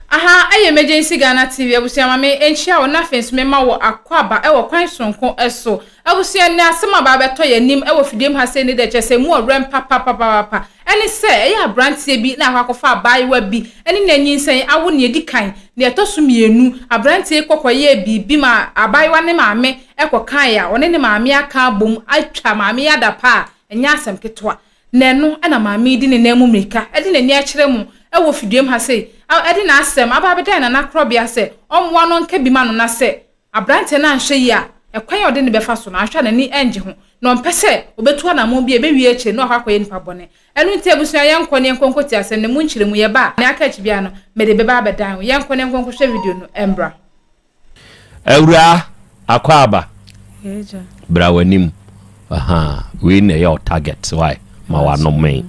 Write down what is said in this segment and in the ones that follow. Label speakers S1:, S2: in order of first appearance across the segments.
S1: Aha yɛ Emergency Ghana TV, abusua ma me nkyia wo na afei nso me ma wo akwaaba wɔ kwan soronko so. Abusua nnɛ asɛm a baa bɛtɔ yɛ anim wɔ fidiem ha sei ne dɛ kyerɛ sɛ emu ɔwerɛm papapapapa ɛne sɛ ɛyɛ abranteɛ bi na akɔ akɔfa abaayewa bi ɛne no anyinsɛn awo nea ɛdi kan nea ɛtɔ so mmienu abranteɛ yi kɔ kɔ yɛɛ biribi ma abaayewa ne maame ɛkɔ kaeɛ a ɔne ne maame aka abom atwa maame yi adapa a ɛnyɛ asɛm ketewa Na ɛno na maame yi de ne nan mu mmirika de n'ani akyerɛ mo wɔ fidwam ha sei, de n'asɛm aba abɛda yɛn nana korɔbea sɛ ɔmmoa no nka bi ma no na sɛ aberanteɛ no anhwɛ yie a, ɛkwan a ɔde no bɛfa so no, anhwɛ a n'ani rennye ho, na ɔmpɛ sɛ ɔbɛtu anammɔn bi a ɛbɛwie akyire no na wakɔ akɔyɛ nnipa bɔne. Ɛno nti abusua, yɛnkɔ na yɛnkɔ nkɔtie asɛm no mu nkyerɛmu, yɛba a, nea aka akyi biara no, mede bɛba abɛdan wo. Yɛnkɔ na yɛnkɔ nkɔhwɛ video no mbra.
S2: Awuraa Akwaaba,
S1: bra w'anim.
S2: Ahaa, wei na ɛyɛ wo target, why? Ma w'ano mee.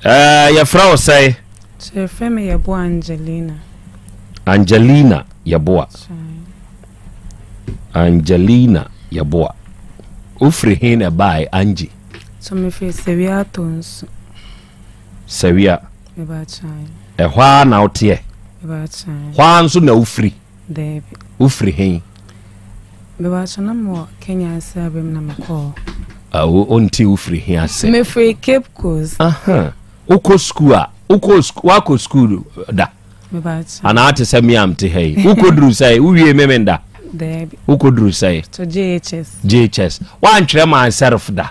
S2: Ɛɛ, yɛfrɛ wo sɛe? Kyerɛfɛ me
S3: Yɛboa Angelina. Angelina
S2: Yɛboa. Angelina Yɛboa. Wofiri he na ɛbae, Angie? So mefiri
S3: Sewia Atonsu.
S2: Sawia,
S3: ɛhɔ ara na woteɛ? Hɔ ara nso na wofiri? Wofiri he? Mebakyɛ na mewɔ Kenya ase aba mu na mekɔɔ. Awo, ɔnti
S2: wofiri he ase? Mefiri Cape
S3: Coast. Wokɔ
S2: sukuu a, woakɔ sukuu da?
S3: Anaa te sɛ me a mte
S2: ha yi, wokɔduru sɛ wowie memenda? Wokɔduru sɛ?
S3: JHS. JHS. Woantwerɛ ma
S2: self da?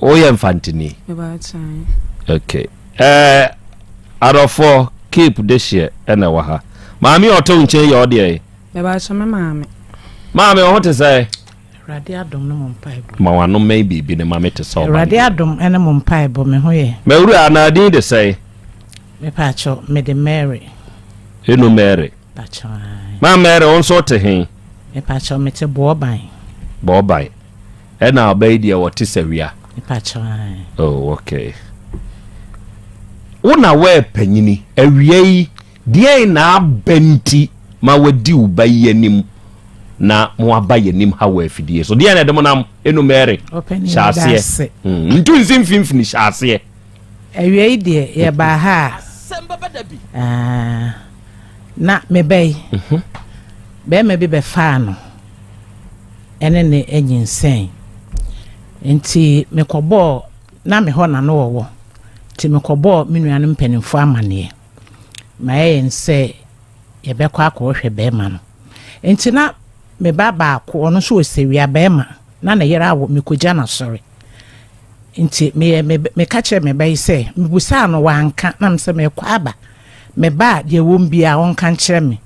S2: woyɛ mfantini
S3: ok ɛɛ
S2: adɔfoɔ keep de hyeɛ ɛna ɛwɔ ha maame a ɔte wo nkyɛn yɛ ɔdeɛ yi bɛbaakyɛ me maame
S3: maame ɔho
S2: te sɛ awurade adom ne
S4: mo mpaebɔ ma wano mmɛn biribi
S2: ne maame te sɛ ɔba awurade adom ne mo
S4: mpaebɔ me ho yɛ mawura na adin de
S2: sɛ mepaakyɛ
S4: mede mary ɛnu
S2: mary
S4: ma mary wo
S2: nso te he mepaakyɛ mete
S4: boɔban boɔban
S2: Ɛna ɔbɛ yi deɛ wɔte sɛ wia.
S4: Oh, okay.
S2: Wo na wɔyɛ panyini awia yi deɛn na aba nti ma wadi wo ba yi anim na mo aba yɛ nim ha wɔ afidie so deɛn na ɛde mo nam ɛnu mɛre hyɛ aseɛ hmm, ntu nsi mfimfini hyɛ aseɛ. Awia yi
S4: deɛ yɛbaa ha a ah, na mebɛyi mhm. bɛrima bi bɛfaa no. ne no anyinsɛn. Enti mekɔbɔɔ, na me hɔ na na ɔwɔ, nti mekɔbɔɔ me nuanom mpanimfoɔ amanneɛ ma ɛyɛn sɛ yɛbɛkɔ akɔhwɛ barima no. Enti na me ba baako, ɔno nso ɔsɛwia barima, na ne yere awo, mekɔgya no asɔre. Nti meyɛ, meka kyerɛɛ me ba yi sɛ, mebusaa no, wanka, na me sɛ merekɔ aba. Me ba a, deɛ ɛwom biara, ɔnka nkyerɛ me.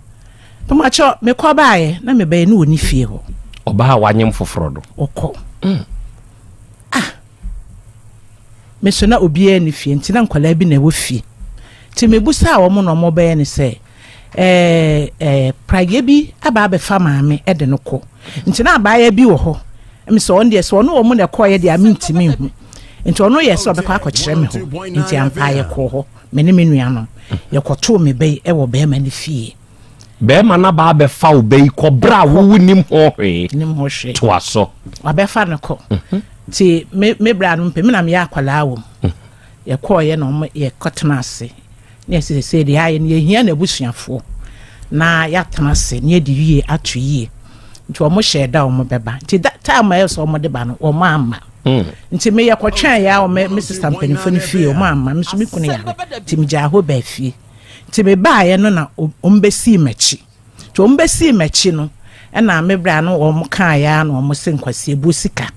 S4: Mepakyɛ, mekɔ baeɛ, na me ba yɛ, na ɔnni fie hɔ. Ɔbaa a wanyem
S2: foforɔ no. Ɔkɔ. Mm.
S4: Ah! Me nso na obiara nni fie, nti na nkwadaa bi na ɛwɔ fie. Nti mebusaa wɔn na wɔbɛyɛ ne sɛ, ɛɛ, ɛɛ, praeɛ bi aba abɛfa maame de no kɔ. Nti na abaayewa bi wɔ hɔ. Ɛmi sɛ ɔno deɛ, sɛ ɔne wɔn na ɛkɔeɛ deɛ a, mentumi nhu. Nti ɔno yɛ sɛ ɔbɛkɔ akɔkyerɛ me hɔ, nti ampa yɛkɔɔ hɔ. Me ne me nuanom, yɛkɔtoo me ba yi wɔ barima no fie. Barima no
S2: aba abɛfa wo ba yi kɔ berɛ a wowo nim ho hwee. Nim ho hwee. Toa so. Wabɛfa no kɔ.
S4: Mhm. Ti me me berɛ a no mpɛ, me na meyɛ akwadaa wɔ mu. Mhm. Yɛkɔɔyɛ na wɔn yɛkɔtena ase. Ne yɛsi sese deɛ ayɛ no yɛhia n'abusuafoɔ na yɛatena ase ne yɛde yie ato yie. Nti wɔn hyɛɛ da wɔn bɛba. Nti da time a ɛsɛ wɔn de ba no wɔn amma. Mm. nti meyɛ kɔtwɛn yɛ a me sista mpanimfoɔ no fie ɔmo amma me so me kunu yare nti megyaa hɔ baa fie nti mebaeɛ no na ɔmo bɛsii m'akyi nti ɔmo bɛsii m'akyi no ɛna me berɛ no ɔmo kaeɛ a na ɔmo se nkwasi ebuo sika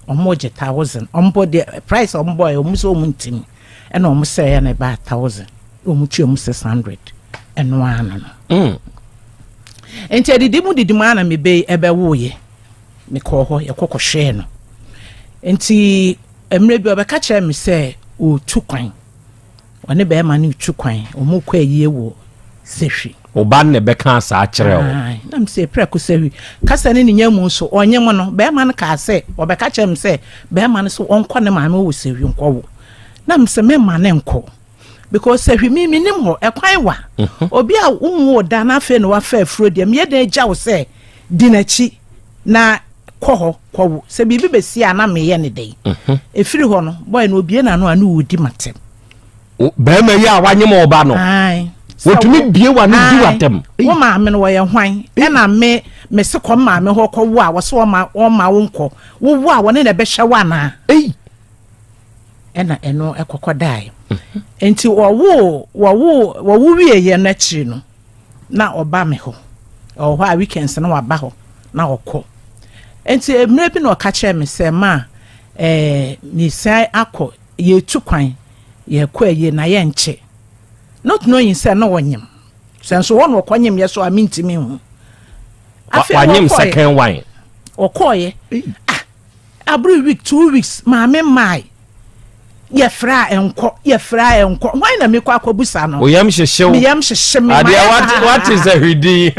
S4: ɔmo gye thousand ɔmo bɔ deɛ price ɔmo bɔeɛ ɔmo sɛ ɔmo ntimi ɛna ɔmo sɛeɛ na ɛbaa thousand ɔmo tua ɔmo six hundred ɛno ano no mm. nti adidi mu didi mu ana mebe ɛbɛwoeɛ mekɔɔ hɔ, yɛkɔ kɔhwɛɛ no. Nti mmerɛ bi ɔbɛka kyerɛɛ me sɛ ɔretu kwan, ɔne bɛrima no retu kwan, wɔrekɔ ayie wɔ Sahwi. Wo ba no na ɛbɛkaa
S2: saa kyerɛɛ wo? Ae, na me sɛ prɛko
S4: Sahwi. Kasa ne ne nya mu nso, ɔnye mo no, bɛrima no kaa sɛ, ɔbɛka kyerɛɛ me sɛ bɛrima no sɛ ɔnkɔ ne maame hɔ wɔ Sahwi nkɔwo. Na me sɛ meremma no nkɔ. because sɛ hwimi menim hɔ ɛkwan wa mhm. obi a wonwu wo da na afei na wafa afuro deɛ meyɛ dɛn agya wo sɛ di n'akyi na kɔ hɔ kɔwo sɛ biribi bɛsi a na meyɛ ne dɛn mhm. ɛfiri hɔ no bɔɛ no obie na no a ne wɔdi matɛm
S2: bɛrima yi a wanyem ɔba no wɔtumi bie wa no di watɛm wo maame no wɔyɛ
S4: hwan ɛna me mese kɔ maame hɔ kɔwo a wɔsɛ wɔma wo nkɔ wowo a wɔne na ɛbɛhyɛ wo anaa ɛna ɛno ɛkɔkɔ dae nti wɔwo wɔwo wɔwo wieɛ no akyiri no na ɔba me hɔ ɔwɔ hɔ a weekends na waba hɔ na ɔkɔ nti mmerɛ bi na ɔka kyerɛ me sɛ ma ɛɛ mesan akɔ yɛtu kwan yɛkɔ ayie na yɛnkyɛ not knowing sɛ na ɔnyem sɛ nso hɔ na ɔkɔ nyem yɛ so a mentimi hu afei
S2: ɔkɔɛ ɔkɔɛ ah
S4: Abere week two weeks maame mmae yɛfrɛ a ɛnkɔ yɛfrɛ a ɛnkɔ hwan na mekɔ akɔbusa no oyam hyehyew meyam
S2: hyehye me adeɛ
S4: wate wate
S2: sɛ hwedin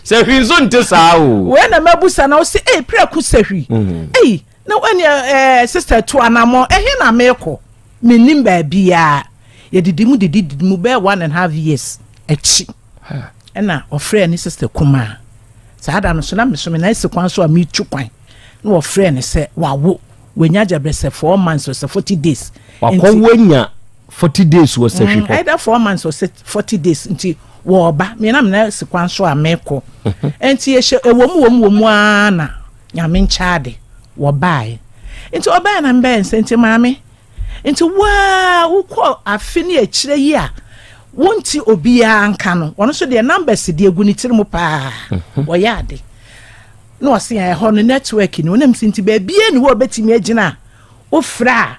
S2: sɛ hwi nso nte saa o wei na mabusa na
S4: ɔsɛ ei prɛko sɛ hwi mm. ei na wani ɛɛ sista tu anamɔ ɛhe na mekɔ menim baabiara yɛdidi mu didi mu bɛɛ one and half years akyi Huh. Ɛna ɔfrɛɛ ne sista kumaa. Saa da no so na mesome na ɛsi kwan so a metu kwan na ɔfrɛɛ no sɛ wawo. Wanya agya bɛ sɛ four months ɔsɛ forty days. Wakɔ wanya
S2: forty days wɔ sɛ hwehɔ. Ɛda four months ɔsɛ
S4: forty days nti wɔɔba. Mmiena mena ɛsi kwan so a mekɔ. Nti yɛhyɛ ɛwɔ mu wɔ mu wɔ mu aa na nyame nkyɛ ade wɔbaeɛ. Nti ɔbɛɛ na mbɛɛ nsɛ nti maame. Nti wo ara wo kɔ afe ne akyire yi a wo nti obiara nka no wɔn nso deɛ numbers deɛ gu ne tiri mu paa mhm. wɔyɛ ade na ɔse ɛhɔ no network ni wɔnam si nti baabie ne hɔ ɔbɛtumi agyina a wofrɛ a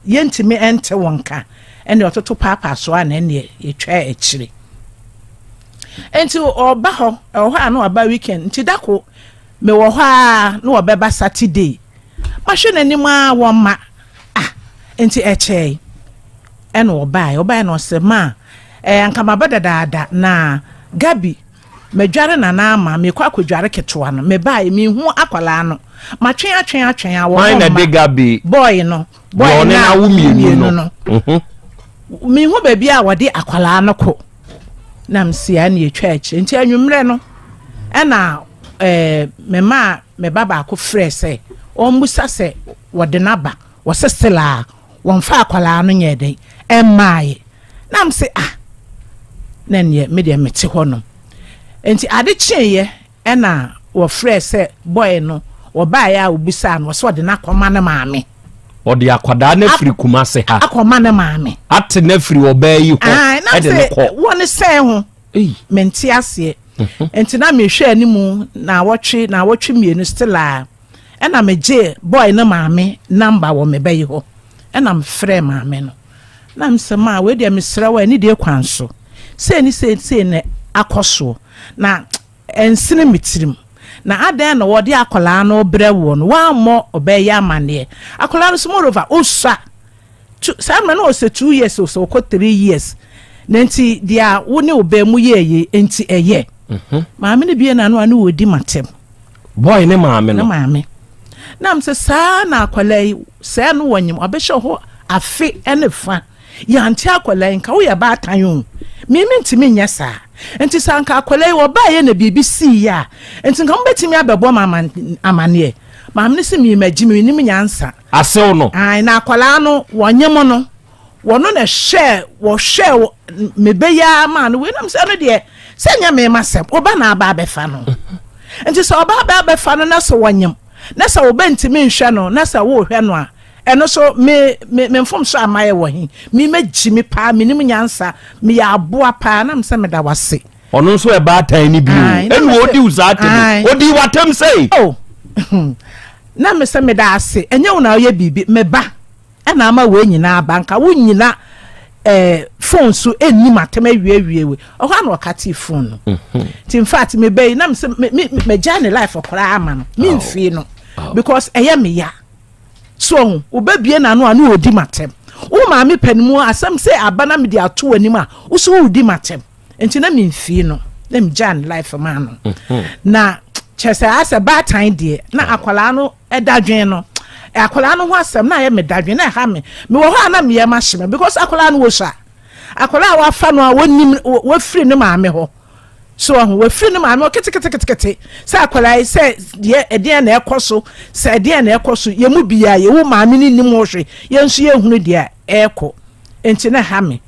S4: yɛntumi ɛnte wo nka ɛne ɔtoto paapaa so a na ɛneɛ yɛtwa akyire nti ɔba hɔ ɛwɔ hɔ a na ɔba weekend nti dako mewɔ hɔ a na ɔbɛba saturday Mahwɛ n'anim ara wɔmma. Ah, enti ɛkyɛe. Ɛna ɔbae, ɔbae na ɔse, Ma, eh, anka maba dadaada, na Gabi, madware Nana ama, merekɔ akɔdware ketewa no, mebae, menhu akwadaa no. Matwɛn atwɛn atwɛn a wɔn mma,
S2: bɔɔe no,
S4: bɔɔe no a wɔn
S2: mmienu no,
S4: menhu baabi a wɔde akwadaa no kɔ. na mesia na yɛtwa akyire nti anwummerɛ no ɛna eh, memaa me ba baako frɛ sɛ ɔmmusa sɛ wɔde no aba wɔsɛ selaa wɔmfa akwadaa no nyɛ dɛn ɛmmaaeɛ na m sɛ ah na neɛ medeɛ mete hɔ nom nti ade kyeeɛ Ɛna wɔfrɛɛ sɛ bɔe no, ɔbaeɛ a ɔbisaa no, ɔse ɔde no akɔma ne maame. Ɔde akwadaa
S2: no afiri Kumase ha. Akɔma ne maame.
S4: Ate no afiri
S2: ɔbaa yi hɔ ɛde no kɔ.
S4: Wɔ ne sɛn ho? Mente aseɛ. Nti na mehwɛ animu naawɔtwe, naawɔtwe mmienu still a, ɛna megye bɔe no maame number wɔ me ba yi hɔ. Ɛna mefrɛɛ maame no. Na me sɛ, Maa, wei deɛ mesrɛ wo, ɛne deɛ kwan so, sei ne sei ne sei na akɔ soɔ, na ɛnsene me tirim. Na adɛn na wɔde akwadaa no rebrɛ woɔ no, woammɔ ɔbaa yi amanneɛ? Akwadaa no nso, moreover, ɔsua. Two, saa mmerɛ no ɔsɛ two years o, sɛ ɔkɔ three years. Na nti, deɛ a wo ne ɔbaa mu yɛeɛ nti ɛyɛ. Maame no bue n'ano a ne ɔredi m'atɛm. Boy ne
S2: maame no. Ne maame. Nam
S4: sɛ saa na akwadaa yi sɛɛ no wɔnyem ɔbɛhyɛ hɔ afe ne fa yɛante akwadaa yi nka woyɛ baatan o mimi ntumi nyɛ saa nti sɛ anka akwadaa yi wɔbaeɛ na biribi sii yɛ a nti nka mobɛtumi abɛbɔ ma amaneɛ maame no sɛ mimagye menim nyansa asew no
S2: na akwadaa no
S4: wɔnyem no Wɔno na ɛhwɛɛ wɔhwɛɛ wɔ me ba yi ara maa no wei nam sɛ ɛno deɛ sɛ nyɛ me ma sɛm ɔba na aba abɛfa no nti sɛ ɔba aba abɛfa no na sɛ wɔnyem na sɛ ɔba ntumi nhwɛ no na sɛ wɔrehwɛ no a ɛno so me me me mfom so ama yɛ wɔ he me ma gyi me paa menim nyansa meyɛ aboa paa nam sɛ meda wase. ɔno nso ɛba
S2: atan ne bio ɛnu odi wo saa atɛm odi wo atɛm sɛ.
S4: na me sɛ meda ase ɛnyɛ wo na ɔyɛ biribi me ba. Ɛna ama wei nyinaa aba. Anka wo nyina eh, phone so ɛnni matam awiewie we. Ɔhɔ ana ɔkatee phone no. Mhm. Nti infact me bɛyi na mesɛ magyae ne life koraa ama no. Memfie no. Because ɛyɛ me ya. So ɔho, wobɛbie n'ano a ne ɔdi matam. Wo maame pɛ no mu asɛm sɛ aba na mede ato w'anim a, wo so wodi matam. Nti na memfie no. Na megyaa ne life maa no. Mhm. Na kyerɛ sɛ asɛ baatan deɛ na akwadaa no Dadwen no, akwadaa no ho asɛm na ayɛ me dadwen na ɛha me. Mewɔ hɔ a na meyɛ ma hye me because akwadaa no wɔhyɛ akwadaa a wafa no a wɔnim wafiri ne maame hɔ so ɔho wafiri ne maame hɔ keteketekete sɛ akwadaa yi sɛ deɛ ɛdeɛn na ɛkɔ so sɛ ɛdeɛn na ɛkɔ so yɛn mu biara yɛwɔ maame ne nim hɔ hwɛ yɛn nso yɛhunu deɛ ɛrekɔ nti na ɛha me.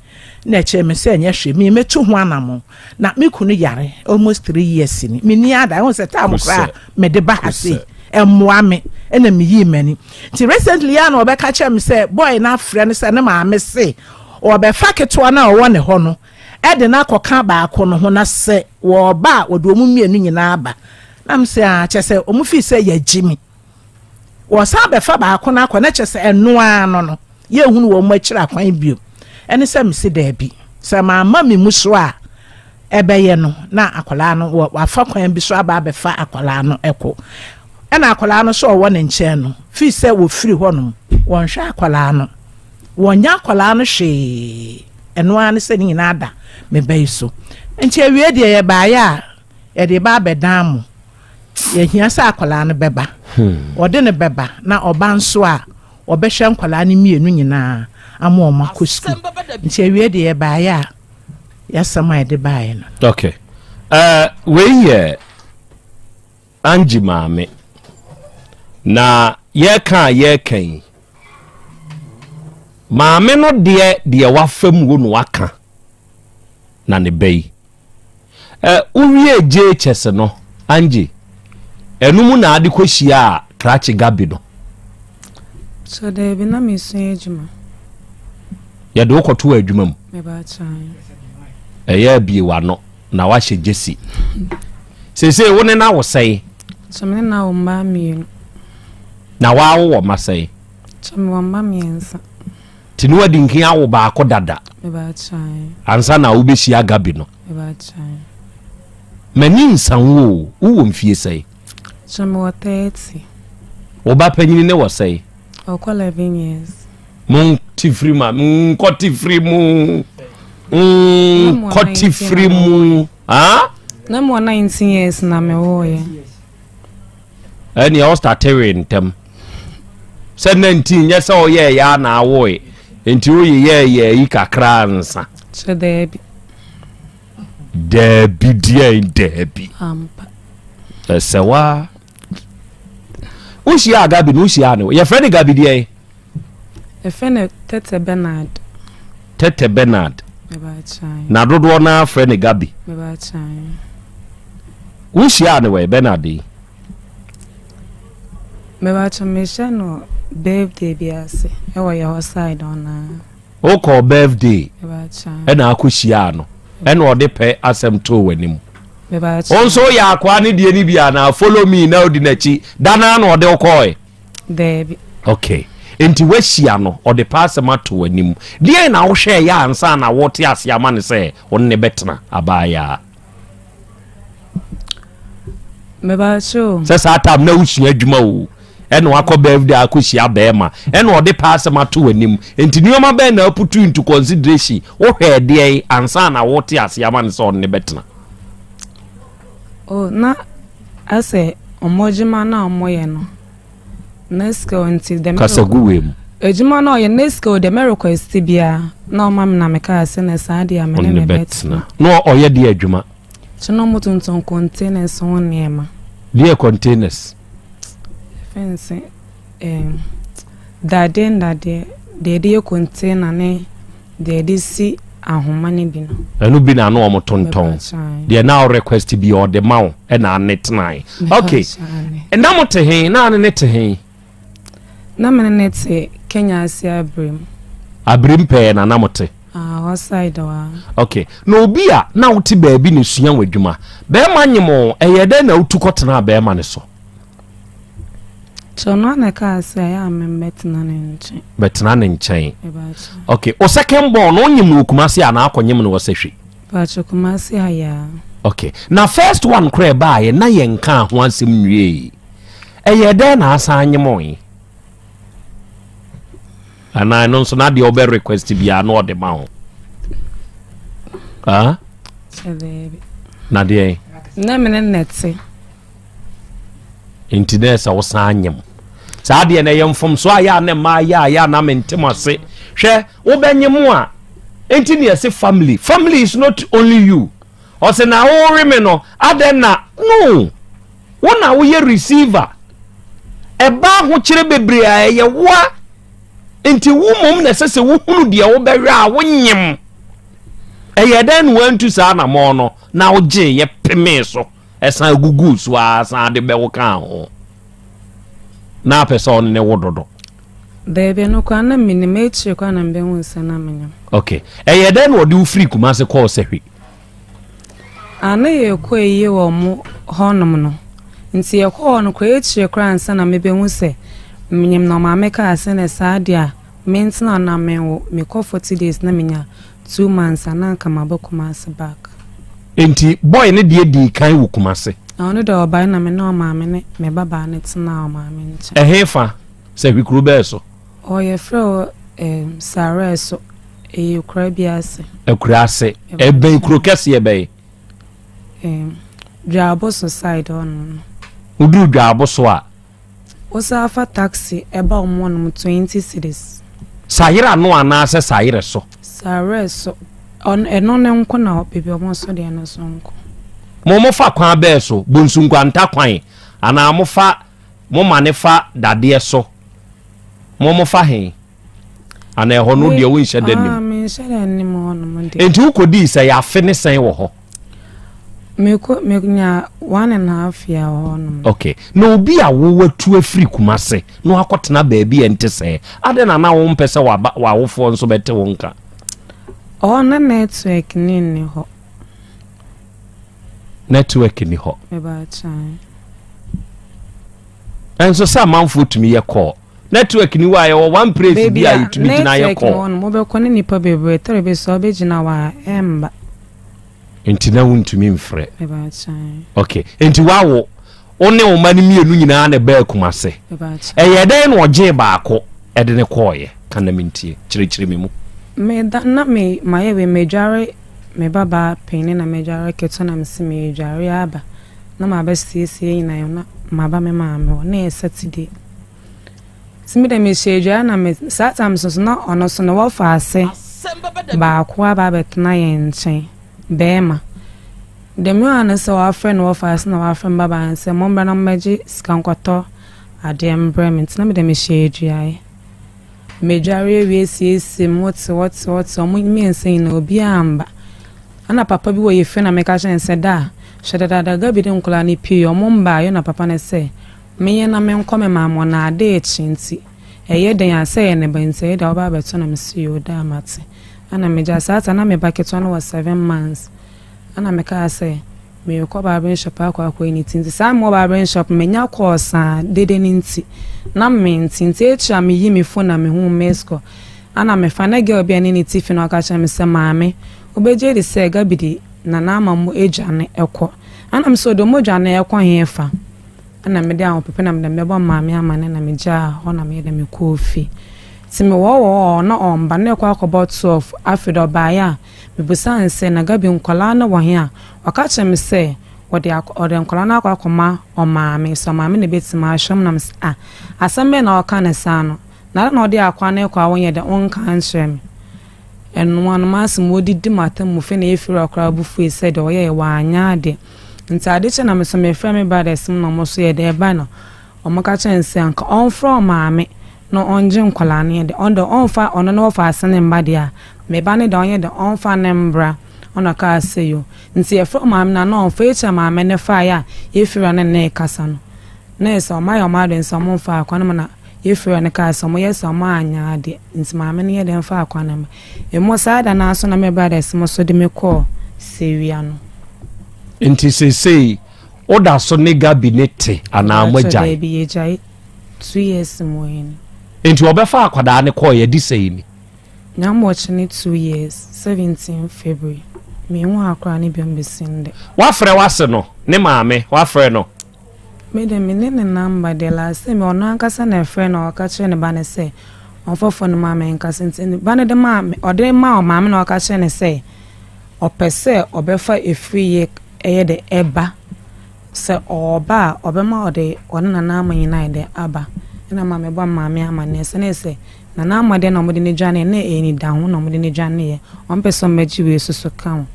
S4: Na ɛkyerɛ me sɛ ɛnyɛ hwee me mɛtu ho anamɔn na me kunu yare almost three years ni me ni ada ɛho sɛ time koraa mede ba ha sei ɛmmoa me ɛna me yii m'ani nti recently yɛ na ɔbɛka kyerɛ me sɛ boy no afrɛ no sɛ ne maame se ɔbɛfa ketewa no a ɔwɔ ne hɔ no ɛde no akɔka baako no ho na sɛ wɔba a wɔde wɔn mmienu nyinaa ba na me sɛ a ah, kyɛ sɛ wɔn fi sɛ yɛagye me Wɔsan bɛfa baako no akɔ, na kyerɛ sɛ ɛno ara no no, yɛrenhunu wɔn akyiri akwan bio. Ɛne sɛ mese daabi. Sɛ mamma me mu so a ɛbɛyɛ no, na akwadaa no, wɔafa kwan bi so aba abɛfa akwadaa no kɔ. Ɛna akwadaa no sɛ ɔwɔ ne nkyɛn no, firi sɛ wɔfiri hɔnom, wɔnhwɛ akwadaa no. Wɔnyɛ akwadaa no hwee. Ɛno ara ne sɛ ne nyinaa da me ba yi so. Nti awie deɛ yɛbaeɛ a, Yɛde ba abɛ dan mo. Yɛhia sɛ akwadaa no bɛba. Wɔde no bɛba na ɔba nso a, wɔbɛhwɛ nkwadaa no mmienu nyinaa ama wɔn akɔ sukuu. Nti awie deɛ yɛbaeɛ a, yɛasɛm a yɛde baeɛ no. Ok. Uh,
S2: wei yɛ Angie maame. Na yɛka a yɛka yi, maame no deɛ deɛ wafa mu wo na waka na ne ba yi. Eh, wo wiee JHS no, Angie? Ɛno mu na ade kɔ hyiaa krakye Gabi no?
S3: Sɛ daabi, na mesua adwuma.
S2: Yɛde wo kɔtoo adwuma mu. Mebaakyeɛ.
S3: Ɛyɛ
S2: abie w'ano na wahyɛ gyesi. Seesei wo ne na wo sɛe? Sɛ me ne na wo
S3: mmaa mmienu. Na
S2: w'awo wɔ ma sɛe? Sɛ me wɔ mma
S3: mmiɛnsa. Ti no adi
S2: nkan awo baako dada.
S3: Ansa na wobɛsi
S2: agabi no. M'ani nsa wo o, wowɔ mfie sɛe? Sɛ mewɔ
S3: thirty. Wo
S2: ba panyini ne wɔ sɛe? Ɔkɔ eleven
S3: years. Mo ti
S2: firi ma, nkɔ ti firi mu, nkɔ ti firi mu. Na mewɔ nineteen
S3: years na mewɔ yɛ.
S2: ɛnneɛ ɔstartewee ntɛm sɛ nna nti nyɛ sɛ ɔyɛɛ yɛ a na awoe nti woyeyɛɛ yɛ yi kakra nsa sɛ daabi
S3: daabi
S2: deɛ daabi
S3: ɛsɛ wa
S2: wohyia gabi no wohyia ne yɛfrɛ ne gabi deɛ
S3: Yɛfrɛ no Tɛtɛ Bernard. Tɛtɛ Bernard. Na dodoɔ no ara frɛ
S2: no Gabi. Wohyiaa
S3: no
S2: wɔ Bernard yi? Mebakyɛ mehyɛ no birthday bi
S3: ase ɛwɔ yɛ hɔ side ɔna. Wokɔɔ
S2: birthday ɛna
S3: akɔhyiaa no
S2: ɛna ɔde pɛ asɛm too w'anim. Wo
S3: nso woyɛ akoa ne deɛ
S2: no bi anaa follow me na odi n'akyi da no ara na ɔde wokɔɔe. daabi
S3: okay
S2: nti woahyia no ɔde paa asɛm ato w'anim deɛn na wohwɛ ɛyɛ ansa na wote ase ama no sɛ ɔne ne bɛtena abaayaa
S3: sɛ saa tam na wosua
S2: adwuma o ɛna wakɔ birthday akɔhyia bɛrima ɛna ɔde paa asɛm ato w'anim nti nneɛma bɛn na aputu into consideration wohwɛ ɛdeɛn ansa na wote ase ama no sɛ ɔne ne bɛtena O
S3: na asɛ ɔmo adwuma no a ɔmo yɛ no ne sika nti dɛ mɛrɛ. Kasa gu wei mu.
S2: Adwuma no a ɔyɛ
S3: ne sika o dɛ mɛrɛ kɔ ɛsiti bia na ɔma mi na mi kaa sɛ na saa deɛ mi ne mi bɛ tena. Na ɔyɛ deɛ
S2: adwuma. Sɛ na ɔmo
S3: tontɔn containers ho nneɛma. Deɛ containers. Fɛnse. Ɛɛ, dadeɛ nnadeɛ, deɛ yɛde yɛ container ne deɛ yɛde si ahoma no bi no. Ɛno bi na ano wɔn
S2: tontɔn. Deɛ na ɔre request bi ɔde ma wo ɛna ane tenae. Okay. Na mo te he? Na ane ne te he? Na
S3: mene ne te Kenya ase abirim. Abirim
S2: pɛɛ na na mo te? Ah, hɔ side wa.
S3: Okay. Na obi
S2: a na wote baabi na esua wɔn adwuma. Bɛrima nyem o, ɛyɛ dɛn na wotu kɔtenaa bɛrima ne so? So
S3: ɔno ara na ɛkaa sɛ ɛyɛ a memmɛtena ne nkyɛn. Bɛtena ne nkyɛn.
S2: Ɛbaakyɛ. Okay, o second born no onyim no wɔ Kumasi anaa akɔnyim no wɔ Sehwe? Baakyɛ Kumasi
S3: ha yɛ a. Okay, na
S2: first one koraa ɛbaayɛ na yɛnkaa ho asɛm nwiei. Ɛyɛɛ dɛn na asan nyemɔe? Anaa ɛno nso na deɛ ɔbɛ request biara na ɔde ma ho? Ah? Sɛ dɛɛbi. Na deɛ? Na mene nɛte. nti na ɛsɛ wosan
S3: anyem
S2: saa deɛ na ɛyɛ mfomso a yɛ a na mmaa yɛ a yɛ a na mentem ase hwɛ wobɛnye mu a nti na ɛsɛ family family is not only you ɔsɛ na wore me no adɛn na no wo na woyɛ receiver ɛba ahokyerɛ bebree a ɛyɛ woa nti wo mmom na ɛsɛ sɛ wohunu deɛ wobɛhwɛ a wonyem ɛyɛ dɛn na wantu saa anamɔ no na wogye yɛ pemee so Ɛsan guguu so ara san de bɛwo kaa ho. Na apɛ sɛ ɔne ne wo dodo. Daabi,
S3: ɛno koraa na menim. Akyire koraa na mebɛhuu sɛ na menyam. Ok. Ɛyɛɛ dɛn
S2: na ɔde wo firii Kumase kɔɔ Sahwi?
S3: Ah, na yɛrekɔ ayie wɔ wɔn hɔnom no. Nti yɛkɔɔ hɔ no koraa, akyire koraa ansa na mebɛhu sɛ menyam no, ɔmaa mekaa sɛ, Ɛnɛ saa deɛ a, Mentena na menwo, mekɔ forty days na menya two months a na anka maba Kumasi back. Enti
S2: boy no deɛ dii kan wo Kumasi? Na ɔno deɛ ɔbae na
S3: me ne ɔmaame ne me babaa no tenaa ɔmaame nkyɛn. Ɛhe fa? Sɛ
S2: hwe kuro bɛɛ so? Ɔɔ yɛfrɛ hɔ
S3: ehm Sarɛɛ so, ɛyɛ akuraa bi ase. Akuraa ase,
S2: ɛbɛn kuro kɛseɛ bɛɛ? Ehm
S3: Dwaaboso side hɔ nom no. Woduru
S2: Dwaaboso a. Wosan fa
S3: taxi ba wɔn hɔ nom twenty cedis. Sayere ano
S2: anaa sɛ sayere so? Sayere so.
S3: Ɛno no nko na baabi wɔn so deɛ no so nko. Mo mo fa
S2: kwan bɛɛ so bonsunkwanta kwan anaa mo fa mo ma ne fa dadeɛ so mo mo fa he? Anaa ɛhɔ no deɛ wonhyɛ da nim? Menhyɛ da nim
S3: hɔnom deɛ. Enti wokɔdii sɛ yɛ afe
S2: ne sɛn wɔ hɔ?
S3: Mekɔ menya one and half year wɔ hɔnom. Okay. Na obi a
S2: wowatu afiri Kumase na wakɔtena baabi a ɛnte sɛɛ, adɛn na na wompɛ sɛ waba w'awofoɔ nso bɛte wo nka? Ɔhɔ
S3: na network ne nni hɔ.
S2: Network nni hɔ. Ɛbɛkyɛn. Ɛnso sɛ amanfoɔ tumi yɛ kɔɔ. Network ni hɔ a yɛwɔ one praise bi a yɛtumi gyina yɛ kɔ. Baabi a network ni hɔ no mobɛkɔ ne nipa
S3: bebree tɔre bi so a wobɛgyina hɔ a ɛmba.
S2: Nti na wontumi mfrɛ.
S3: Ok nti wawo
S2: wo ne wo ma no mmienu nyinaa na ɛbaa Kumase. Ɛyɛ
S3: dɛn na ɔgyee
S2: baako ɛde ne kɔɔyɛ ka na mentie kyerɛkyerɛ me mu. Meda na me
S3: mayɛ wei madware me ba baa panin na madware ketewa na mese medware aba na mabɛsiesie nyinaa na maba me maame hɔ na ɛyɛ Saturday. Ntsi me dɛ mehyɛ edwar na me saa tam so so na ɔno so no wɔfa ase baako aba abɛtsena hɛn nkyɛn, bɛrima. Dɛm a no sɛ ɔafrɛ no wɔfa ase na ɔafrɛ me babaa no sɛ mombra na mombɛgye sika nkɔtɔ adeɛ mbrɛ me ntsi na me dɛ mehyɛ eduae. Medwar ewie siesie mo tse hɔ tse hɔ tse hɔ ɔmo mmiɛnsa nyina obia ammba. Ana papa bi wɔ yɛ fie na meka kyerɛ no sɛ da hwɛ dadaada ga bi de nkɔlaa no pii ɔmo mmbaa yɔna papa no sɛ Menyɛ na menkɔ me maa mɔ na ade rekye nti ɛyɛ den a sɛ yɛ ne ba nti ɛyɛ de a wobɛ abɛto na mese yoo daa mate ɛna megya saa ta na me ba ketewa no wɔ seven months ɛna mekaa sɛ merekɔ barbering shop akɔ akɔ yɛ ne ti nti saa mewɔ barbering shop menya kɔɔ saa dede no nti na mente nti akyiri a meyi me phone na mehu miss call ɛna mefa na girl bi a ne ne ti fi na ɔka kyerɛ me sɛ maame wobɛgye di sɛ Gabby de nana ama mo adwane ɛkɔ ɛna me sɛ ɔde ɔmo adwane ɛkɔ hefa na mede ahopopo na mede bɛbɔ maame amane na megyaa hɔ na meyɛ dɛ mekɔɔ fie nti mewɔwɔɔ ɔɔ na ɔmba na ɛkɔ akɔbɔ 12 afei dɛ ɔbaeɛ a mebusaa no sɛ na Gabi nkwadaa no wɔ he a ɔka kyerɛɛ me sɛ wɔde akɔ ɔde nkwadaa no akɔ akɔma ɔmaame sɛ ɔmaame na ɛbɛtumi ahwɛ mu na me sɛ ah asɛm bɛn na ɔka no saa no na ada na ɔde akwa no rekɔ a wonyɛ dɛ wonka nkyerɛ me ɛnoa no m'asɛm wɔdidi m'atemmufoɔ na yɛfiri hɔ koraa bo fue sɛ deɛ ɔyɛɛ wanyɛ adeɛ. Ntsi adze kyee na me so mefrɛɛ me brothers mu na ɔmo so yɛ dɛ ba na ɔmo ka kyerɛɛ no se anka ɔmfrɛ ɔmaame na ɔngye nkwadaa no yɛ dɛ ɔnndɛ ɔmmfa ɔno na ɔfa ase ne mba deɛ a me ba no dɛ ɔnyɛ dɛ ɔmfa ne mbra ɔna ɔkaa se yo ntsi yɛfrɛ ɔmaame no a na ɔmfa ekyir a maame no faeɛ a yefir ano na yɛkasa no na yɛ se ɔmo ayɛ ɔmo adwen se ɔmo mfaa kwan mu na Yɛfrɛɛ no kaa sɛ ɔmo yɛ saa ɔmo anyɛ adeɛ nti maame no yɛ dɛn faa kwan no ma emo saa da no ara so na me brothers mo so de me kɔɔ sewia no. Nti
S2: seesei wo da so ne Gabi ne te anaa mo agyae? Mpakyɛ daabi yɛgyae
S3: two years mu wɔ hɛn. Nti ɔbɛfaa
S2: akwadaa no kɔɔ yɛ de sɛi ni. Nya mo ɔkye
S3: ne two years seventeen February menhu akwadaa no biom besi ndɛ. Wafrɛ wase
S2: no ne maame wafrɛ no? Me de,
S3: menni ne nɔmba de, last time ɔno ankasa na ɛfrɛɛ na ɔka kyerɛɛ ne ba no sɛ ɔmfa fon no ma me nkasa nti ne ba no de maa me, ɔde maa ɔmaame na ɔka kyerɛɛ no sɛ ɔpɛ sɛ ɔbɛfa efiri yɛ ɛyɛ de ɛba sɛ ɔɔba a ɔbɛma ɔde ɔne nana ama nyinaa yɛ de aba ɛna ma mebɔ maame amaneɛ sɛnee sɛ Na n'ama deɛ na wɔde no dwaneeɛ no, na ɛyɛ anidaho na wɔde no dwaneeɛ. Ɔmpɛ sɛ ɔmmɛgye wei nso so ka ho.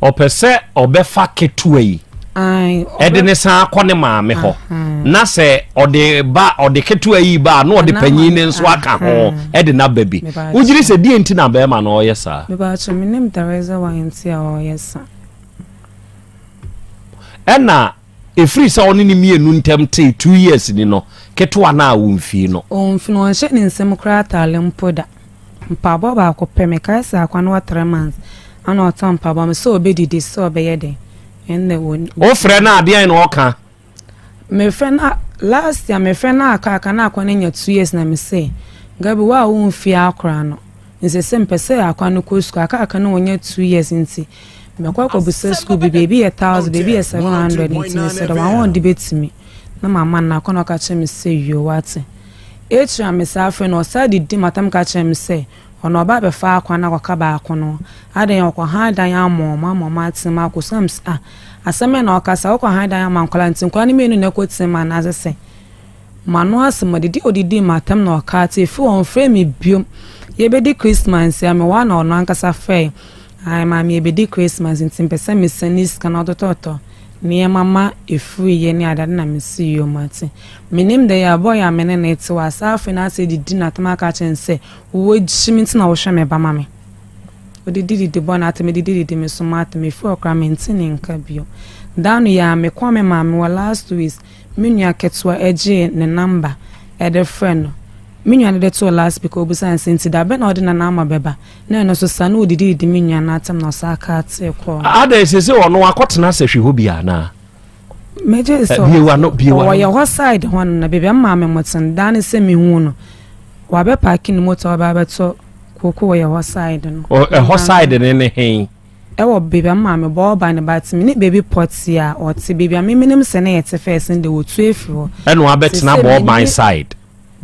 S3: Ɔpɛ
S2: sɛ ɔbɛfa ketewa yi de ne san akɔ ne maame hɔ na sɛ ɔde ba ɔde ketewa yi ba na ɔde panyin ne nso aka ho de n'aba bi wogyiri sɛ deɛ nti na bɛrima na ɔyɛ saa. mebaakyɛ menim
S3: dareza wa nti a ɔyɛ saa.
S2: ɛna Ɛfiri sɛ ɔne ne mmienu ntam tee two years ni no, ketewa no a ɔmfii no. Ɔmfii no, ɔnhyɛ ne nsam
S3: koraa ataale mpo da. Mpaboa baako pɛ, mekae sɛ akwa no wɔ three months ɛna ɔtɔɔ mpaboa ma me sɛ ɔbɛdidi, sɛ ɔbɛyɛ dɛn, ɛna ɔnni. Wofrɛ no a deɛn na ɔka? Mefrɛ no a, last year mefrɛ no a aka, aka na akwa no anya two years na me se, Gabi wo a womfii akora no, Nsese mpɛ sɛ akwa no kɔ sukuu aka aka no wɔnya two years nti mɛkɔ akɔbisa sukuu bi baabi yɛ thousand baabi yɛ seven hundred nti mesɛ dɛ wɔn wɔn de bɛtumi na mama no akwa na ɔka kyerɛ me sɛ yoo wate akyiri a mesa afrɛ no ɔsa didi matam ka kyerɛ me sɛ ɔno ɔba abɛfa akwa no akɔka baako no adɛn ɔkɔ han dan ama wɔn ama wɔn atena mu akɔ sukuu a asɛm bɛn na ɔkasa wokɔ han dan ama nkwadaa nti nkwadaa no mmienu na ɛkɔ tena mu anaasɛ sɛ M'ano ase ma didi a ɔde dii m'atam na ɔkaa te fii hɔ mfrɛɛ me bio. Yɛbɛdi Christmas a, mewɔ a na ɔno ankasa frɛe. Ae, Maame yɛbɛdi Christmas nti mepɛ sɛ mesan ne sika na ɔtotɔtɔ nneɛma ma ɛfiri yɛ ne adeade na mese yoo mate. Menim dɛ yɛabɔ yɛ a me ne no ɛte hɔ a saa afei na asɛ didi n'atam aka akyerɛ no sɛ wagye me nti na wohwɛ me ba ma me. Ɔde didi de bɔ n'atam mede didi de me so m'atam ɛfiri hɔ koraa mente ne nka bio. Da no yɛ a mekɔɔ me maame hɔ last weeks Me nua ketewa gyee ne namba de frɛɛ no. Me nua no de too loudspeaker, obisaa no sɛ, Nti da bɛn na wode Nanaama bɛba? Na ɛno nso saa, na odidi didi me nua no atɛm na ɔsan kaa tee kɔɔ no. Adɛn, seesei ɔno
S2: akɔtena asehwe hɔ bio anaa? Me gyee
S3: sɛ Bue w'ano, bue w'ano. ɔyɛ hɔ side hɔ no, na baabi a mmaa me mmɔten daa ne sɛ mehuu no, wabepaake ne motor aba abɛtɔ kooko wɔ yɛhɔ side no. Ɔ, ɛhɔ side no
S2: ne he? Ɛwɔ baabi a
S3: me maame bɔ ɔba no but me ne baabi pɔtee a ɔte baabi a me menim sɛ na yɛte first no deɛ ɔtu afiri hɔ. Ɛna wabɛtena bɔ
S2: ɔban side.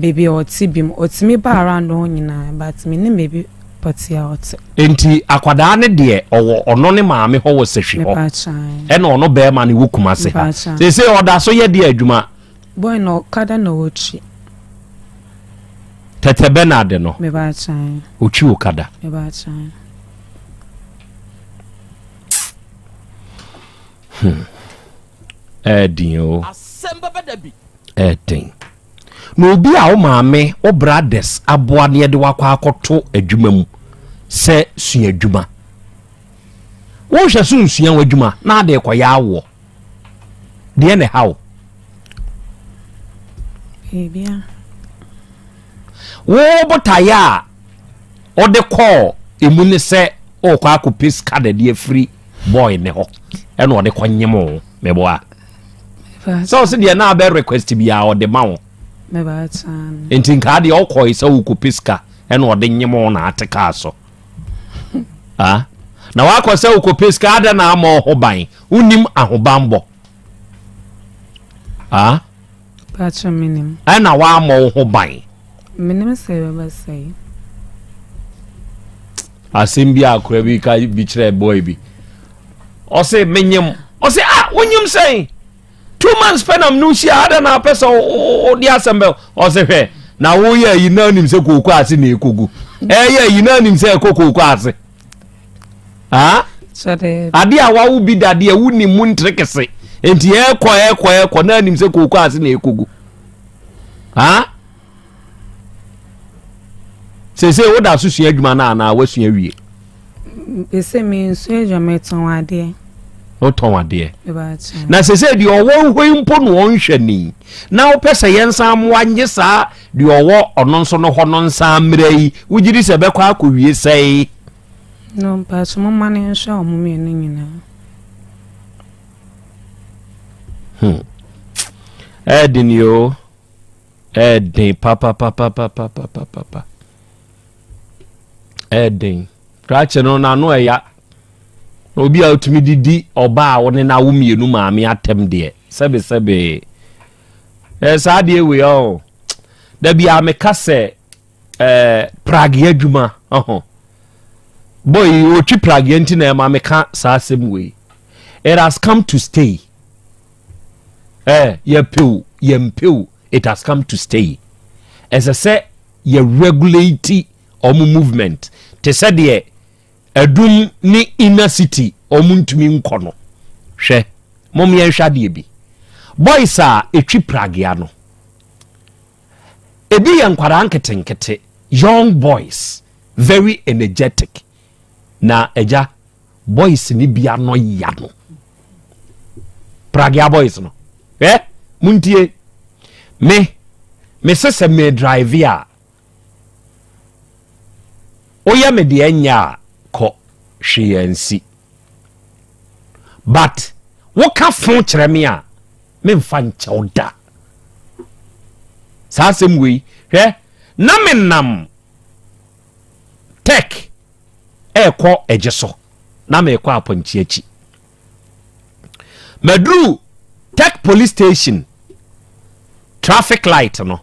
S2: Baabi a ɔte
S3: bi mu. Ɔtumi ba around hɔ nyinaa but me nim baabi pɔtee a ɔte. Nti akwadaa
S2: no deɛ ɔwɔ ɔno ne maame hɔ wɔ sahwi hɔ ɛna ɔno barima no wɔ kumase ha seesei ɔda so yɛ deɛ adwuma. Boy no okada
S3: na ɔwɔ twi.
S2: Tɛtɛ Bernard no
S3: ɔtwi okada.
S2: hmm ɛɛden o ɛɛden na obi a wo maame wo brothers aboa ne yɛde wakɔ akɔto adwuma mu sɛ sua adwuma wohwɛ so nsua w'adwuma na ade kɔyɛ awoɔ Deɛ na ɛha wo?
S3: Biribia.
S2: Wo botaeɛ a ɔde kɔɔ emu ne sɛ ɔrekɔ akɔpɛ sika dɛde afiri bɔɔl ne hɔ ɛna ɔde kɔ nyem wo meboa sɛ ɔsɛ deɛ na abɛ request bi a ɔde ma wo
S3: nti nkaa deɛ ɔkɔe
S2: sɛ wokɔpɛ sika ɛna ɔde nyem wo na ate kaa so ah? na wakɔ sɛ wokɔpɛ sika adɛn na ama ɔho ban wonim ahobanbɔ
S3: ah paatwa menim ɛna waamɔ wo ho
S2: ban menim sɛ
S3: ɛbɛba sɛe
S2: asɛm bi akora bi ka bi kyerɛ boy bi ɔse menyem ɔse ah wonyem sɛn two months pɛ nam no hyia ada na apɛ sɛ wode asɛm bɛ ɔse hwɛ na woyɛ ayi na anim sɛ kooko ase na ɛkɔgu ɛyɛ ayi na anim sɛ ɛkɔ kooko ase Ah?
S3: Ade a wawo bi
S2: dadeɛ wonim mu ntere kɛse. Nti ɛkɔ ɛkɔ ɛkɔ na anim sɛ kooko ase na ɛkɔgu. Ah? Sese woda so sua adwuma no anaa woasua wie? Ɛsɛ
S3: me nsua adwuma metɔn adeɛ. Wotɔn
S2: adeɛ. Na sese deɛ ɔwɔ hɔ yi mpo na ɔnhwɛ ni. Na wopɛ sɛ yɛn nsa mmoa nye saa Deɛ ɔwɔ ɔno nso no hɔ no nsan mmra yi, wogye di sɛ ɛbɛkɔ akɔwie sɛe? No,
S3: but momma no nhwɛ wɔn mmienu nyinaa. Hmm.
S2: Ɛɛden yi o. Ɛɛden papapapapapapapa. Ɛɛden. Krakye no n'ano ɛya. Na obi a otumi didi ɔbaa a wɔne n'awo mmienu maame atɛm deɛ sɛbesɛbe. Eh, saa adeɛ wei ɔɔ. Oh. Da biara meka sɛ eh, prage adwuma ɔho. Boy, ɔtwi prage nti na ɛma meka saa asɛm wei. It has come to stay. Eh, yɛpɛw, yɛmpɛw, it has come to stay. Ɛsɛ sɛ yɛ regulate ɔmo movement. Te sɛ deɛ Adum ne inner city ɔmo ntumi nkɔ no hwɛ mom yɛnhwɛ adeɛ bi boys a ɛtwi pragea no ɛbi yɛ nkwadaa nketenkete young boys very energetic na agya boys ne bi anɔ ya no pragea boys no hwɛ montie me me sesɛ me drive a Woyɛ me deɛ nyɛ a kɔ, hwee ansi. But woka fo kyerɛ me a, memfa nkyɛ wo da. Saa asɛm wei, hwɛ, na menam Tech ɛrekɔ Agye so, na merekɔ Apɔnkye akyi. maduru tech police station traffic light no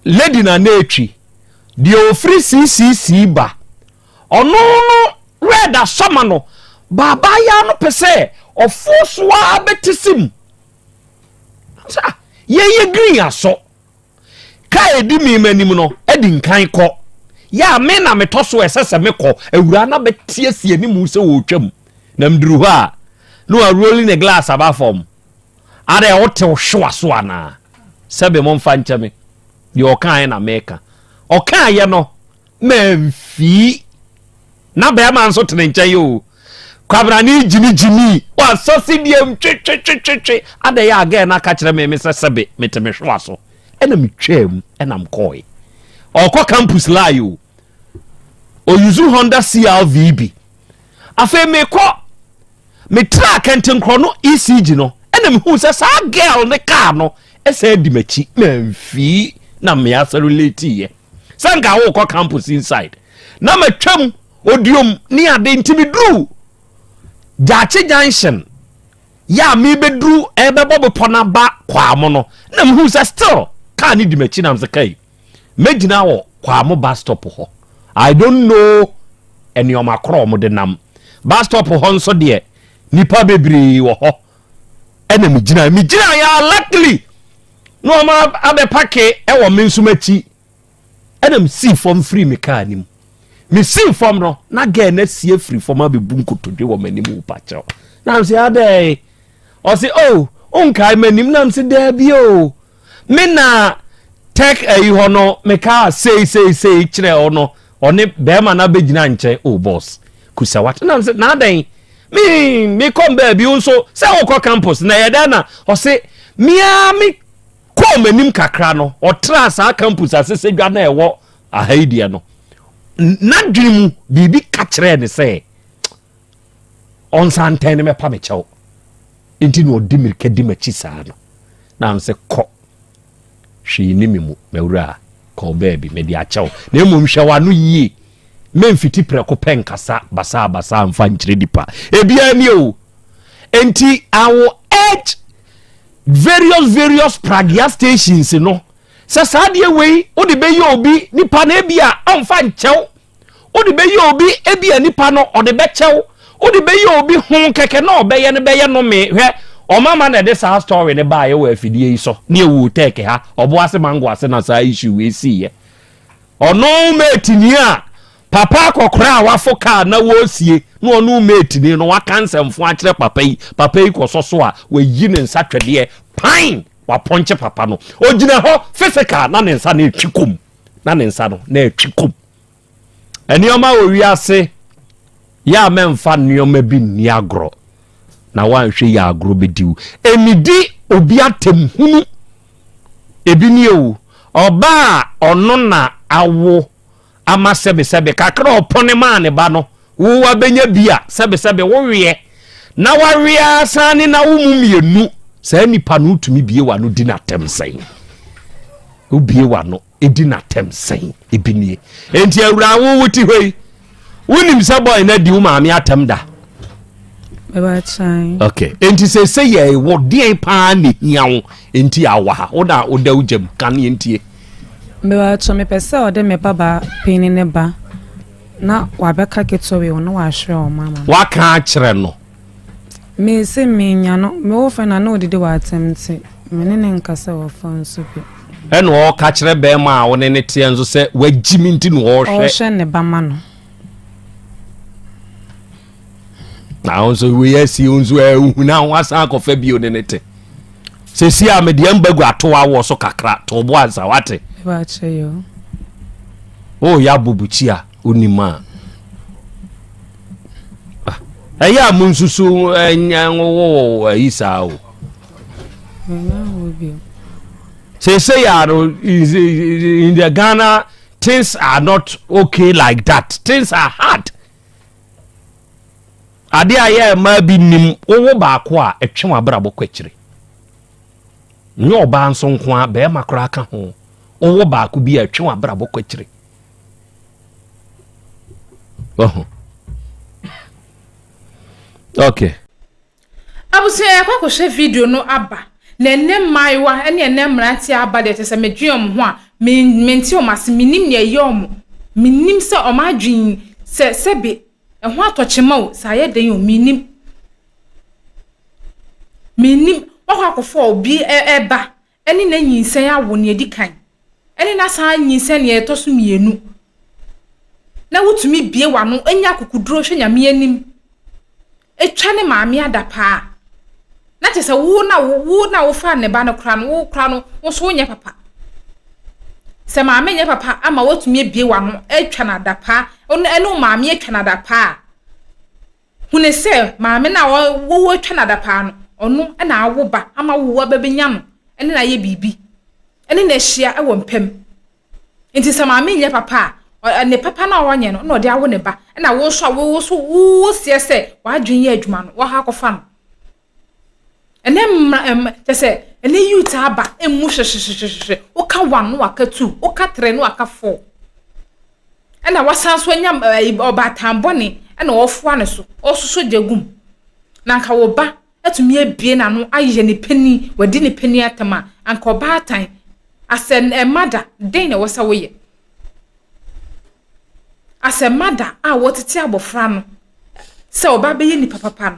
S2: lady na na etwi deɛ ofiri ccc ba ɔno no red asɔma no baabaa ya no pɛ sɛ ɔfo so ara bɛte sim ah, yɛyɛ green asɔ Ka a edi me anim no di nkan kɔ. Yɛ a me na metɔ so a ɛsɛ sɛ mekɔ. Awuraa no abɛteɛteɛ ne mu sɛ ɔretwam, na miduru hɔ a, na warooli ne glass aba fam. Adɛn, wote wo hyewa so anaa? Sɛbe momfa nkyɛ me. Deɛ ɔkaeɛ na meka. Ɔkaeɛ no, Mamfi. Na bɛrima nso te ne nkyɛn o. Kwabena ne gyini gyini. Wasa si deɛ ntwetwetwetwe. Ada yɛ a gɛɛ no aka kyerɛ me me sɛ sɛbe mete me hwewa so. Ɛna me twaa mu ɛna me kɔɔe. Ɔkɔ campus lie o. Oyuzu Honda CRV bi. Afei me kɔ me tra kɛntenkorɔ no ECG no ɛna me hu sɛ saa girl ne car no ɛsɛ di m'akyi. Mamfi na me asa relate yɛ. sɛ nka wokɔ campus inside na matwam odiom ne ade nti meduru gyaakye junction yɛ a mebɛduru ɛbɛbɔ bepɔ no aba kwaamo no na mehu sɛ still kaa ne di m'akyi nam sɛ kai mɛgyina wɔ kwaamo bus stop hɔ i don't know nneɛma korɔ wɔn de nam bus stop hɔ nso deɛ nipa bebree wɔ hɔ ɛna megyina megyina yɛ luckily Na wɔn abɛpake wɔ me nso m'akyi. Ɛna mesii fam firi me kaa no mu. Mesii fam no, na gɛɛ no asi afiri fam abɛbu nkotodwe wɔ m'anim wo pakyɛw. Na mesɛ adɛn? Ɔse, o, oh, wonkae m'anim? Na mesɛ daabi o. Oh. Me na tɛk ayi hɔ no mekaa sei sei sei kyerɛ wo no. Ɔne bɛɛma no abɛgyina nkyɛn oh boss kusa wate nam se na adɛn me me kɔm baabi wo nso sɛ wokɔ campus na ɛyɛ dɛn na ɔse meaa me kɔɔ m'anim kakra no ɔtraa saa campus asese dwa na ɛwɔ aha yi deɛ no n'adwene mu biribi ka kyerɛɛ ne sɛ ɔnsa ntɛn ne mɛpa me kyɛw nti na ɔde mirika di m'akyi saa no na nsɛ kɔ Hwee nni me mu, m'awuraa. Kɔ wo baabi, mede akyɛ wo. Na mmom hwɛ w'ano yie. Memmfiti prɛko pɛ nkasa basaabasaa mfa nkyerɛ nnipa. Ebiara ni o. Enti I will urge various various pragya stations no sɛ saa adeɛ wei wode bɛyɛ obi nipa no ebia ɔmfa nkyɛ wo. Wode bɛyɛ obi ebia nipa no ɔde bɛkyɛ wo. Wode bɛyɛ obi ho kɛkɛ na ɔbɛyɛ no bɛyɛ nome. Hwɛ, ɔmama na ɛde saa story no baeɛ wɔ afidie yi so ne ɛwoo tech ha, ɔboase mango ase na saa issue wei siiɛ. Ɔno mate ni a papa akɔkora a wafo kaa na wɔresie na ɔno mate ni no waka nsɛmfo akyerɛ papa yi, papa yi kɔsɔ so a wayi ne nsa twɛdeɛ pan wapɔnkye papa no. Ɔgyina hɔ physical na ne nsa no retwi kɔ mu. na ne nsa no na ɛtwe kɔm. Nneɛma wɔ wiase yɛ a mɛmfa nneɛma bi nni agorɔ na woanhwɛ yɛ agorɔ bɛdi wo. Ɛnidi obi atɛm hunu. Ebi ni o, ɔbaa ɔno na awo ama sɛbesɛbe kakra ɔpɔne maa ne ba no Wo wa bɛnya bi a sɛbesɛbe wo weɛ na wawe ara san ne na wo mu mmienu. Saa nipa no wotumi bie w'ano di n'atɛm sɛn? Wobie w'ano di n'atɛm sɛn? Ebi nie. Enti awura wo wote hɔ yi, wonim sɛ bɔe no adi wo maame atɛm da? Okay. Enti sɛ sɛ yɛ wo deɛn paa na ehia wo enti awa ha wo na woda wo gyam ka ne ntie. Mewɔ ato
S3: mepɛ sɛ ɔde me ba ba panyin ne ba. Na wɔabɛka ketewee ho na wɔahwerɛ wɔn ama me. Wɔaka akyerɛ no. Me se menya no, me wo fɛ na ne odidi wɔ
S2: atɛm
S3: nti, me ne no nkasa wɔ fɔ nso bi. Ɛna ɔka kyerɛ
S2: bɛɛma a wo ne no teɛ nso sɛ wagyi me nti na ɔrehwɛ. Ɔrehwɛ ne ba ma no. na wo nso wei asi wo nso ɛhu na ho asan akɔfa bio ne ne te sɛsi a medeɛ mba gu ato awoɔ so kakra to bo ansa wate woyɛ abobukyi a wonim a ah, ɛyɛ a monsusu ɛnyɛ wowo ayi saa o seesei a no in the ghana things are not okay like that things are hard Adeɛ a yɛ mmaa bi nnim, wowo baako a, ɛtwe w'abrabɔ kɔ akyire. Nyɛ ɔbaa nso nko ara, barima koraa ka ho. Wowo baako bi a, ɛtwe w'abrabɔ kɔ akyire. Ɔho. Okay.
S1: Abusua yɛkɔ akɔhwɛ video no aba na ɛnɛ mmaayewa ne ɛnɛ mmeranteɛ aba deɛ kyɛsɛ medwen ɔmo ho a me mente ɔmo ase menim nea ɛyɛ ɔmo menim sɛ ɔmo adwen sɛ sɛbe ɛho atɔ kyema o sɛ ayɛ den o menim menim wakɔ akɔfa obi ɛɛba ɛne n'anyinsɛn awo nea edi kan, ɛne n'asan anyinsɛn nea ɛtɔ so mmienu, na wutumi bue w'ano, nya akokoduru hwɛ Nyame anim, twa ne maame adapaa, na kyerɛ sɛ wo na wo, wo na wofaa ne ba no koraa no, wo koraa no, wo nso wonyɛ papa. Sɛ maame nyɛ papa ama woatumi abue w'ano atwa no adapaa, ɛne wo maame atwa no adapaa a, Hunu sɛ maame no a woretwa no adapaa no, ɔno na awo ba ama wo ba bɛnya no ne no ayɛ biribi, ne no ahyia wɔ mpa mu. Enti sɛ maame nyɛ papa a, ne papa no a ɔnyɛ no na ɔde awo ne ba, ɛnna wo nso a wo nso woseɛ sɛ w'adwene yɛ adwuma no, woakɔ akɔfa no. Ɛnɛ mmra ɛm kyɛ sɛ ɛnɛ youth aba ɛmu hwehwehwehwehwɛ woka one na waka two woka three na waka four ɛna wasan nso anya ɛyi ɔbaatan bɔne ɛna ɔfoa ne so ɔsoso gya gum na nka wo ba atumi abie n'ano ayɛ ne panin wadi ne panin atam a anka ɔbaatan asɛ ɛma da den na ɛwɔ sɛ woyɛ asɛ ma da a wɔtete abɔfra no sɛ ɔba bɛyɛ nipa papa no.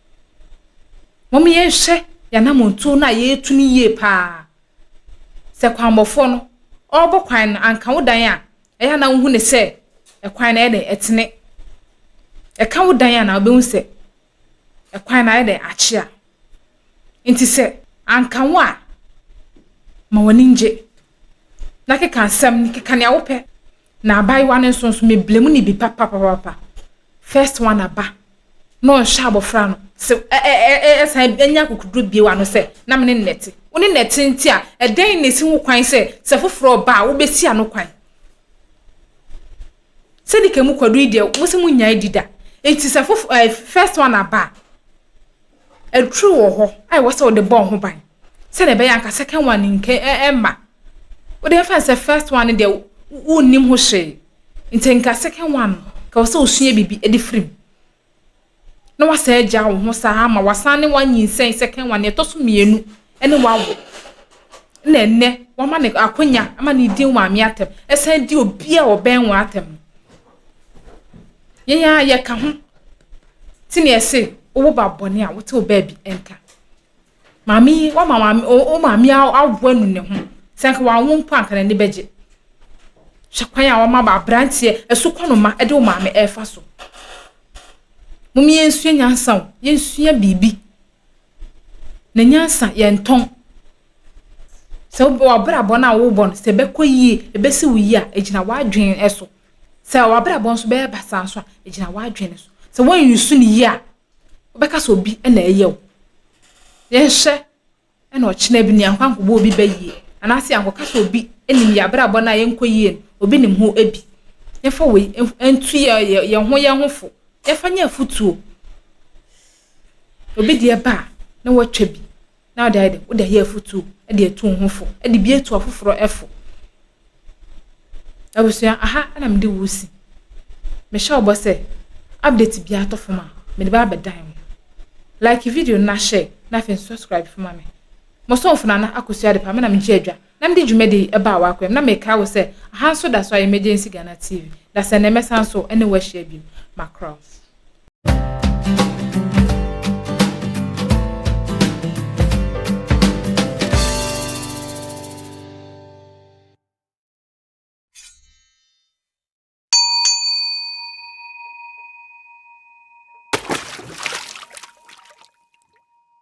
S1: Mom yɛnhwɛ yɛn anammɔntuo no a yɛretu no yie pa ara. Sɛ kwanbɔfoɔ no ɔrebɔ kwan no, anka wo dan a, ɛyɛ a na wohu no sɛ ɛkwan no ayɛ dɛn ɛtene. Ɛka wo dan a na wobɛhu sɛ ɛkwan no ayɛ dɛn akyea. Nti sɛ anka wo a, ma w'ani ngye. na keka nsɛm no, keka nea wopɛ. Na abaayewa no nso nso meblemu ne bi papapapapa. First one aba na ɔnhyɛ abɔfra no sɛ ɛsan anya akokoduro bie wa no sɛ na mene nnɛte. Wo ne nnɛte nti a ɛdɛn na ɛsi ho kwan sɛ sɛ foforɔ ɔba a wobɛsi ano kwan. Sɛde ka mu kwadu yi deɛ mo sɛ mo nyaa di da. Nti sɛ first one aba a aduro wɔ hɔ a ɛwɔ sɛ wode bɔ ho ban. sɛdeɛ ɛbɛyɛ anka second one no nka ɛ ɛmma. Wode mfa no sɛ first one no deɛ wo wonnim ho hwee, nti nka second one no nka wɔ sɛ osua biribi de firi mu. Na wasan agya wo ho saa ama wasan ne wanyinsɛn second one, deɛ ɛtɔ so mmienu ne wawo. Na ɛnnɛ wama no akwanya ama no redi maame atɛm, ɛsan di obi a ɔbɛn wo atɛm no. Yɛn ara yɛka ho. Ti na ɛse wowo ba bɔne a, wote wo baabi nka. Maame yi wama maame o o maame yi awo anu ne ho. Sɛ anka wanwo mpo a anka n'ani bɛgye. Hwɛ kwan a wama ma aberanteɛ asukɔnoma de wo maame refa so. Mom yɛnsua nyansa o, yɛnsua biribi. Na nyansa yɛntɔn. Sɛ wo w'abrabɔ no a wobɔ no sɛ ɛbɛkɔ yie, ɛbɛsi wo yie a, ɛgyina w'adwene so. Sɛ w'abrabɔ nso bɛyɛ basaa nso a, ɛgyina w'adwene so. Sɛ woanyi so no yie a, wobɛka sɛ obi na ɛyɛ wo. Yɛnhwɛ na ɔkyena bi ni ankɔ ankɔbɔ obi bɛ yie anaasɛ ankɔka sɛ obi nim yɛ abrabɔ no a yɛnkɔ yie no, obi nim ho bi. Yɛmfa wei ntu yɛ yɛn ho yɛn ho fo. Yɛmfa nyɛ afutuo. Obi deɛ ba a na watwa bi. na wode ayɛ dɛ wode ayɛ afotu de atu wo ho fo de bi atu afoforɔ fo abusua aha na mede wo si mehyɛ wo bɔ sɛ update biara tɔ fam a mede ba abɛdan wo like video no na share na afei subscribe fama me mo sɔmfo nana akosua de pa me na megye adwa Na mede dwumadi yi baa w'akoa mu, na mekae wo sɛ, Aha nso da so ara yɛ Emergency Ghana TV. Dasɛnnɛ mɛsan so ne wo ahyia bio. Macross.